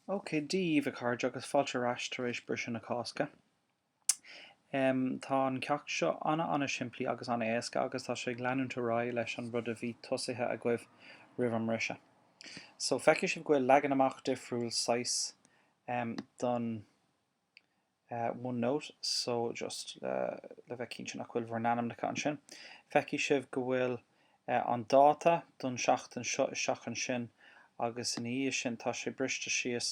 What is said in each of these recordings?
Ok, Dia dhaoibh a chairde agus fáilte ar ais tar éis briseadh na Cásca. Em, tá an ceacht seo an-an-simplí agus an-éasca agus tá sé ag leanúint ar aghaidh leis an rud a bhí tosaithe agaibh roimh an mbriseadh. So, feicfidh sibh go bhfuil leagan amach difriúil saghas, em, don. One note, so just le bheith cinnte nach bhfuil bhur n-ainmneacha ansin, feicfidh sibh go bhfuil an dáta don seachtain seo isteach ansin agus ina dhiaidh sin tá sé briste síos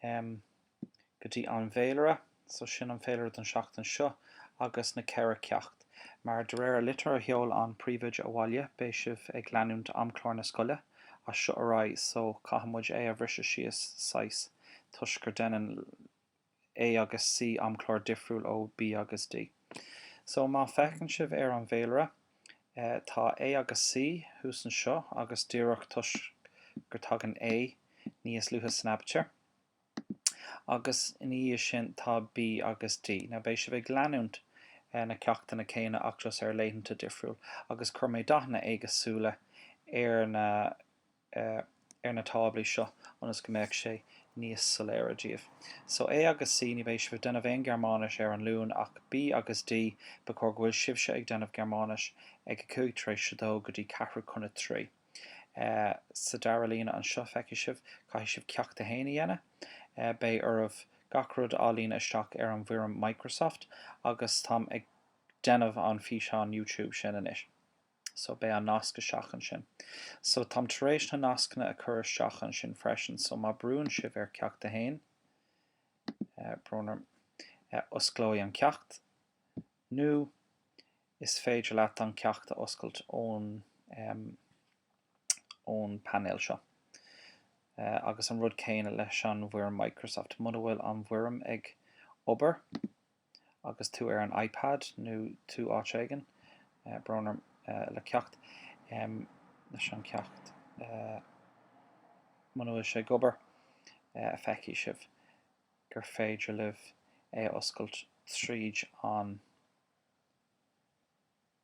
go dtí an bhféilire, so sin an féilire don seachtain seo agus na ceithre ceacht. Mar, de réir an litir a sheol an príomhoide abhaile, beidh sibh ag leanúint amchlár na scoile as seo ar aghaidh so caithfidh muid é a bhriseadh síos saghas, toisc go deineann A agus C amchlár difriúil ó B agus D. So, má feiceann sibh ar an bhféilire, tá A agus C thuas anseo agus díreach toisc gur tagann A níos luaithe san aibitír, agus ina dhiaidh sin tá B agus D. Now, beidh sibh ag leanúint na ceachtanna céanna ach just ar laethanta difriúil, agus chuir mé dathanna éagsúla ar na. ar na táblaí seo ionas go mbeadh sé níos soiléire daoibh. So A agus C, ní bheidh sibh ag déanamh aon Ghearmáinis ar an Luan ach B agus D, ba chóir go bhfuil sibhse ag déanamh Gearmáinis ag a cúig tar éis a dó go dtí ceathrú chun a trí. Sa dara líne anseo, feicfidh sibh, caithfidh sibh Ceacht a hAon a dhéanamh. Beidh oraibh gach rud a líonadh isteach ar an bhfoirm Microsoft agus táim ag déanamh an físeán YouTube sin anois. So, beidh an nasc isteach ansin. So, táim tar éis na nascanna a chur isteach ansin freisin. So, má brúann sibh ar Ceacht a hAon, brón orm, osclóidh an ceacht, nó is féidir leat an ceacht a oscailt ón, ón painéal seo. Agus an rud céanna leis an bhfoirm Microsoft. Muna bhfuil an bhfoirm ag obair. Agus tú ar an iPad nó tú áit éigin, brón orm, le ceacht, leis an cheacht, muna bhfuil sé ag obair, feicfidh sibh gur féidir libh é a oscailt tríd an.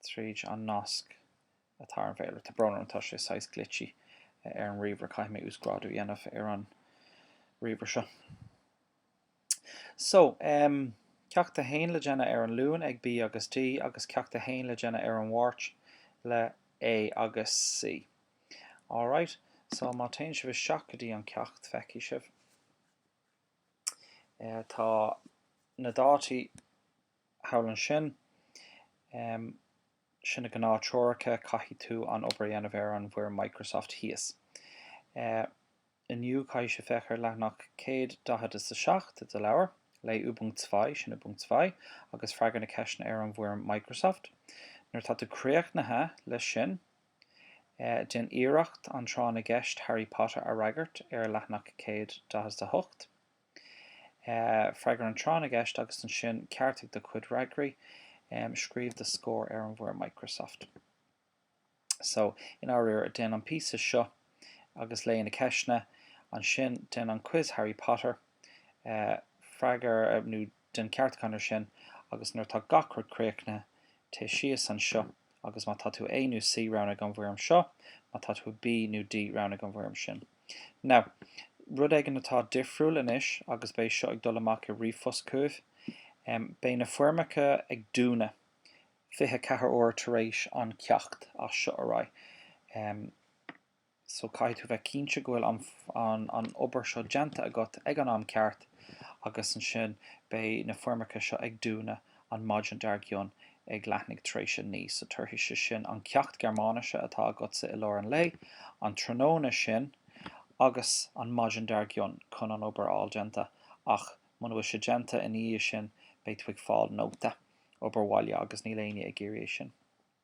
tríd an nasc atá ar an bhféilire. Tá brón orm, tá sé saghas glitchy ar an ríomhaire, caithfidh mé uasghrádú a dhéanamh ar an ríomhaire seo. So, em, Ceacht a hAon le déanamh ar an Luan ag B agus D agus Ceacht a hAon le déanamh ar an Mháirt le A agus C. Alright, so má téann sibh isteach go dtí an ceacht, feicfidh sibh, eh, tá na dátaí, thall ansin. Sin na gnáth treoracha, caithfidh tú an obair a dhéanamh ar an bhfoirm Microsoft thíos. Inniu caithfidh sé féach ar leathanach 147 de leabhar, léigh Ü Punkt 2, sin Übung 2, agus freagair na ceisteanna ar an bhfoirm Microsoft. Nuair atá tú críochnaithe leis sin, déan iarracht an tráth na gceist Harry Potter a fhreagairt ar leathanach 148. Freagair an tráth na gceist agus ansin ceartaigh do chuid fhreagraí. Scríobh do scór ar an bhfoirm Microsoft. So, i ndáiríre, déan an píosa seo agus léigh na ceisteanna. Ansin, déan an quiz Harry Potter. Freagair nó déan ceartúchán air sin agus nuair atá gach rud críochnaithe, téigh síos anseo agus má tá tú A nó C, roghnaigh an bhfoirm seo, má tá tú B nó D, roghnaigh an bhfoirm sin. Now, rud éigin atá difriúil anois agus beidh seo ag dul amach i ríomhphost chugaibh, beidh na foirmeacha ag dúnadh 24 uair tar éis an ceacht as seo ar aghaidh. so caithfidh tú bheith cinnte go bhfuil an obair seo déanta agat ag an am ceart agus ansin beidh na foirmeacha seo ag dúnadh an maidin dar gcionn ag leathuair tar éis a naoi, so tabharfaidh sé sin an ceacht Gearmáinise atá agatsa i lár an lae, an tráthnóna sin agus an maidin dar gcionn chun an obair a fháil déanta ach muna bhfuil sé déanta ina dhiaidh sin beidh tú ag fáil nóta obair bhaile agus níl éinne ag iarraidh é sin.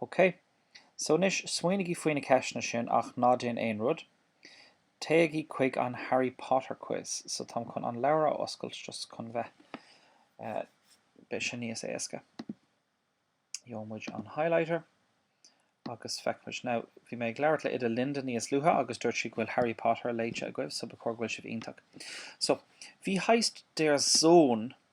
OK. So anois, smaoinigí faoi na ceisteanna sin ach ná déan aon rud. Téigí chuig an Harry Potter Quiz. So táim chun an leabhar a oscailt just chun bheith, beidh sin níos éasca. Gheobhaidh muid an highlighter agus feicfimid. Now, bhí mé ag labhairt le Oide Linda níos luaithe agus dúirt sí go bhfuil Harry Potter léite agaibh so ba chóir go bhfuil sibh iontach. So, wie heißt der Sohn.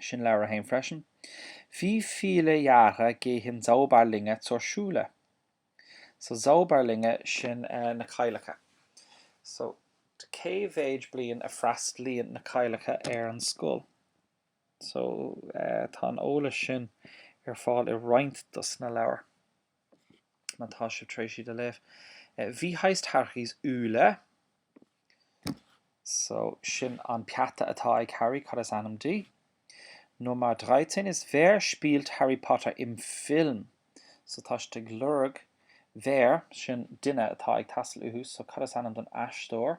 Sin leabhar a haon freisin. Wie viele Jahre gehen Zauberlinge zur Schule. So Zauberlinge, sin na cailleacha. So cé mhéid bliain a freastalaíonn na cailleacha ar an scoil? So tá an eolas sin ar fáil i roinnt dos na leabhair. Má tá sibh tar éis iad a léamh. Wie heißt Harrys Eule? So, sin an peata atá ag Harry, cad is ainm di? Nummer dreizehn ist Wer spielt Harry Potter im Film? So, tá siad ag lorg Wer, sin duine atá ag teastáil uathu, so cad is ainm don aisteoir?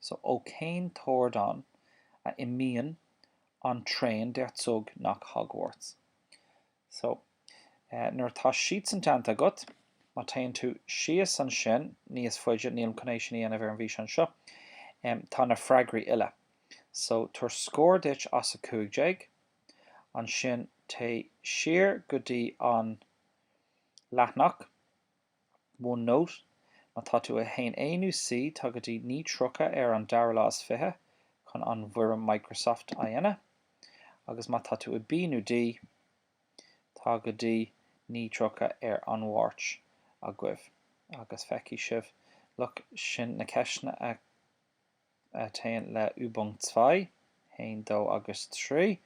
So ó cén t-ardán a imíonn an traen der Zug nach Hogwarts. So nuair atá siad san déanta agat, má téann tú síos ansin níos faide, nílim chun é sin a dhéanamh ar an bhfíseán seo, em, tá na freagraí uile. So tabhair scór duit as 15, ansin téigh siar go dtí an leathanach, OneNote, Má tá tú i 1A nó C, tá go dtí 9:30 ar an dara lá is fiche chun an bhfoirm Microsoft a dhéanamh agus má tá tú i B nó D, tá go dtí 9:30 ar an Mháirt agaibh agus feicfidh sibh, look, sin na ceisteanna a. a théann le Übung Zwei, haon, dó agus trí,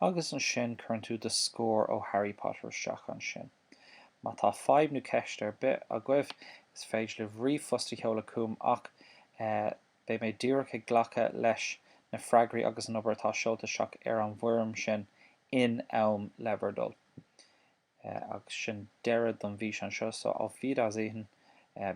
agus ansin cuireann tú do scór ó Harry Potter isteach ansin. Má tá fadhb nó ceist ar bith agaibh, is féidir libh ríomhphost a sheoladh chugam ach, eh, beidh mé díreach ag glacadh leis na freagraí agus an obair atá seolta isteach ar an bhfoirm sin in am le bhur dtoil. Eh, agus sin deireadh don bhfíseán seo, so auf Wiedersehen, eh.